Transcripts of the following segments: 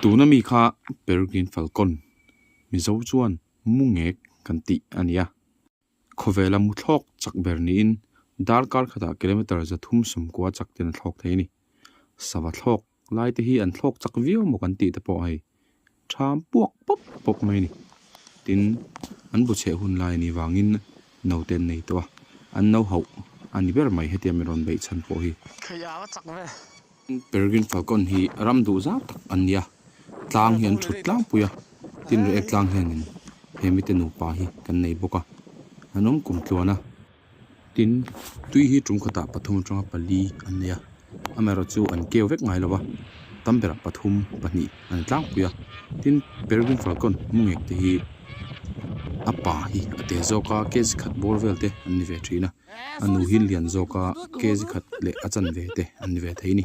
Tuna mi kha Peregrine falcon, Mizo chuan mungek kan tih a ni a, khawvela muthlawk chak ber niin dar kar khatah kilometre za thum sawmkua chak ten a thlawk thei a ni. Sava thlawk Laite hi an thlawk chak viau maw kan tih te pawh hei ṭham puak pawp pawp mai a ni. Tin, an bu chheh hun lai a nih vangin note an nei tawh a, an no hauh a ni ber mai hetiang min rawn beih chhan pawh hi. Theih ava chak ve. Peregrine falcon hi ram duh zau tak an ni a, tlang hi an ṭhut tlangpui a, tin reh ek tlang hianin he mite nupa hi kan nei bawk a, an awm kum tluan a. Tin, tui hi ṭum khatah pathum aṭanga pali an nei a, a mera chu an keu vek ngai lo va, tam berah pathum, pahnih an tlangpui a. Tin, Peregrine Falcon mu ngek te hi a pa hi a teh zawk a, kzi khat bawr vel te an ni ve ṭhin a, a nu hi lian zawk a, kzi khat leh a chanve te an ni ve thei a ni.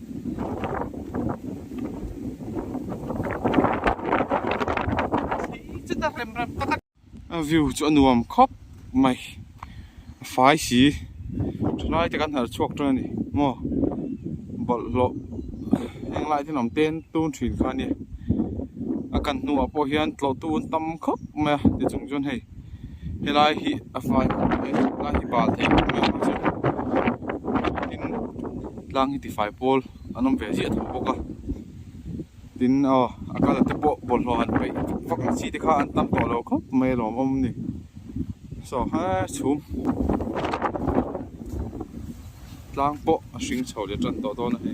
a view chu a nuam khawp mai a fai si thalai te kan harh chhuak tawh a ni maw bawlh hlawh heng lai te lam te an tun thin kha ania a kan hnungah pawh hian tlawhtu an tam khawp mai a ti chung chuan hei-- helai hi a fai hlawm a ni a helai hi bal thei hlawm mai ang chu tin tlang hi tifai pawl an awm ve chiah tho bawk a tin aw a colour te pawh bawlhhlawh han peih vak ang chi te kha an tam tawh lo khawp mai a lawm awm a ni so he chhum tlang pawh a hring chho leh tan tawh dawn a ni.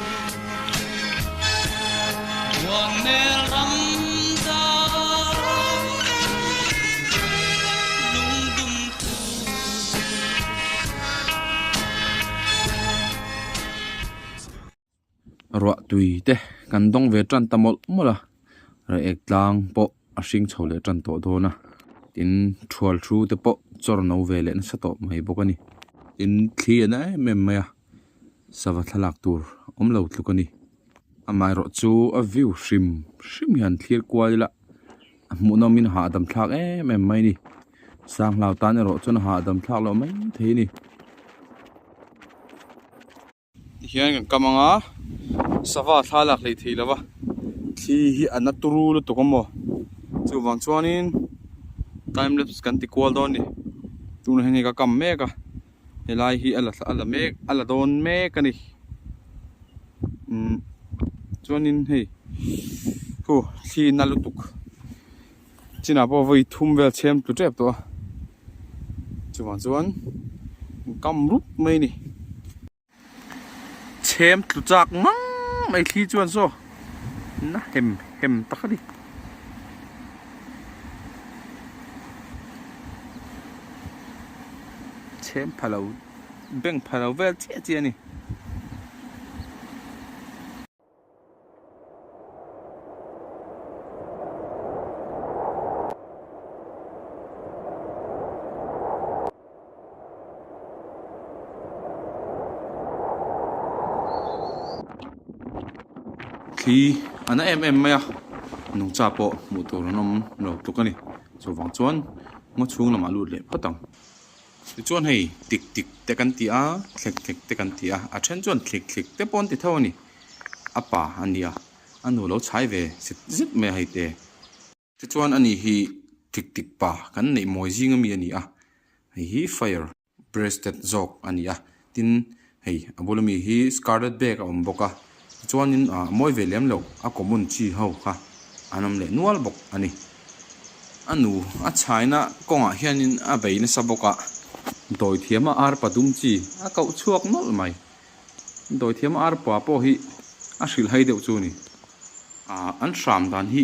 Ruah tui te kan dawng ve tan ta mawlh mawlh a, rehek tlang pawh a hring chho leh tan tawh dawn a, tin thual thu te pawh chawr no ve leh nasa tawh mai bawk a ni, tin thli a na em em mai a. sava thlalak tur awm lo tluk a ni amah erawh chu a view hrim hrim hian thlir kual ila a hmuh nawm in a hahdam dam thlak em em mai a ni sanghlao tan erawh chuan a hahdam thlak loh mai thei a ni tihian kan kam anga sava thla lak leh thei lova thli hi a na turu lutuk a maw chuvang chuanin timelapse kan tikual dawn a ni tunah hian hei ka kam mek a. helai hi ala a la mek a la dawn mek a ni umm chuanin hei hu thlin a lutuk chinah pawh vawi thum vel chhem tlu tep tawh a chuvang chuan kam rup mai a ni. Chhem tlu chak ngang mai thli chuan saw na hem hem tak a ni. Chhem phalo beng phalo vel chiah chiah a ni. khi an a em em mai a nung cha pawh hmuh tur an awm lo tluk a ni chuvang chuan ngaw chhung lamah lut leh phawt ang. Tichuan hei tik tik te kan ti a, thlek thlek te kan ti a, a then chuan thlik thlik te pawh an ti tho a ni. A pa a nia, a nu lo chhai ve zet zet mai a hei te. Tichuan ani hi thlik thlik pa kan neih mawi zing a mi a ni a, hei hi fire breasted zawk a ni a. tin hei a bul ami hi scarlet bag a awm bawk a tichuanin a mawi ve lem lo a common chi ho kha an awm leh nual bawk a ni a nu a chhaina kawngah hianin a bei nasa bawk a dawithiama arpa dum chi a koh chhuak nawlh mai dawithiama arpa pawh hi a hrilh hai deuh chu a ni a an hram dan hi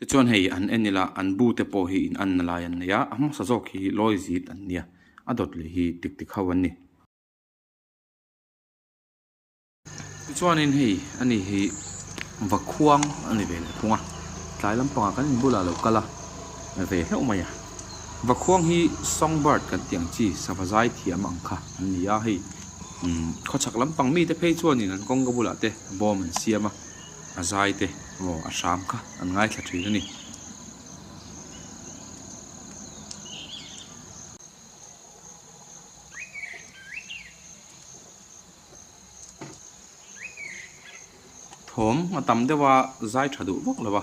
Te chuan hei an en ila, an bu te pawh hi in anna lai an nei a, a hmasa zawk hi lawi zit an nia, a dawt leh hi tik tik ho an ni. Tichuanin hei a ni hi va khuang a ni ve leh thung a, tlai lampangah kan in bulah lo kal a ve hleuh mai a, va khuang hi song bird kan tih ang chi sava zai thiam ang kha an ni a, hei khawchhak lampang mite phei chuanin an kawngka bulah te bawm an siam a, A zai te aw a hram kha an ngaithla thin a ni. Thawm a tam deuh a zai tha duh vak lo a.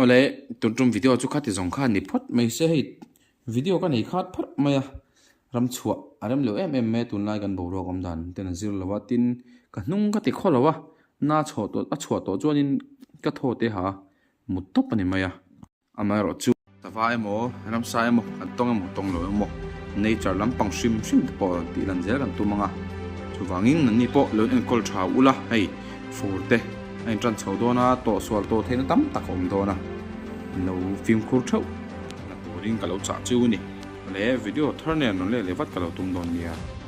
Awle tun tum video chu khati zawng kha ni phawt mai se hei video ka nei khat phawt mai a ram chhuah a rem lo em em mai a tunlai kan boruak awm dan ten a zir lo a tin ka hnung ka ti khaw lo a na chhaw tawh a chhuah tawh chuan in ka thaw te ha mut tawp a ni mai a amaherawhchu. Sava emaw, ramsa emaw, kan tawng emaw tawng lo emaw, nature lam pang hrim hrim te pawh rawn tihlan zel kan tum ang a. Chuvangin nanni pawh lo enkawlh tha ulh a, hei fur te a inṭan chho dawn a, tawh sual tawh theihna tam tak a awm dawn a, min lo fimkhur theuh. Ka hna turin ka lo chah chiu a ni. Ka leh video thar nen rawn let leh vat ka lo tum dawn nia.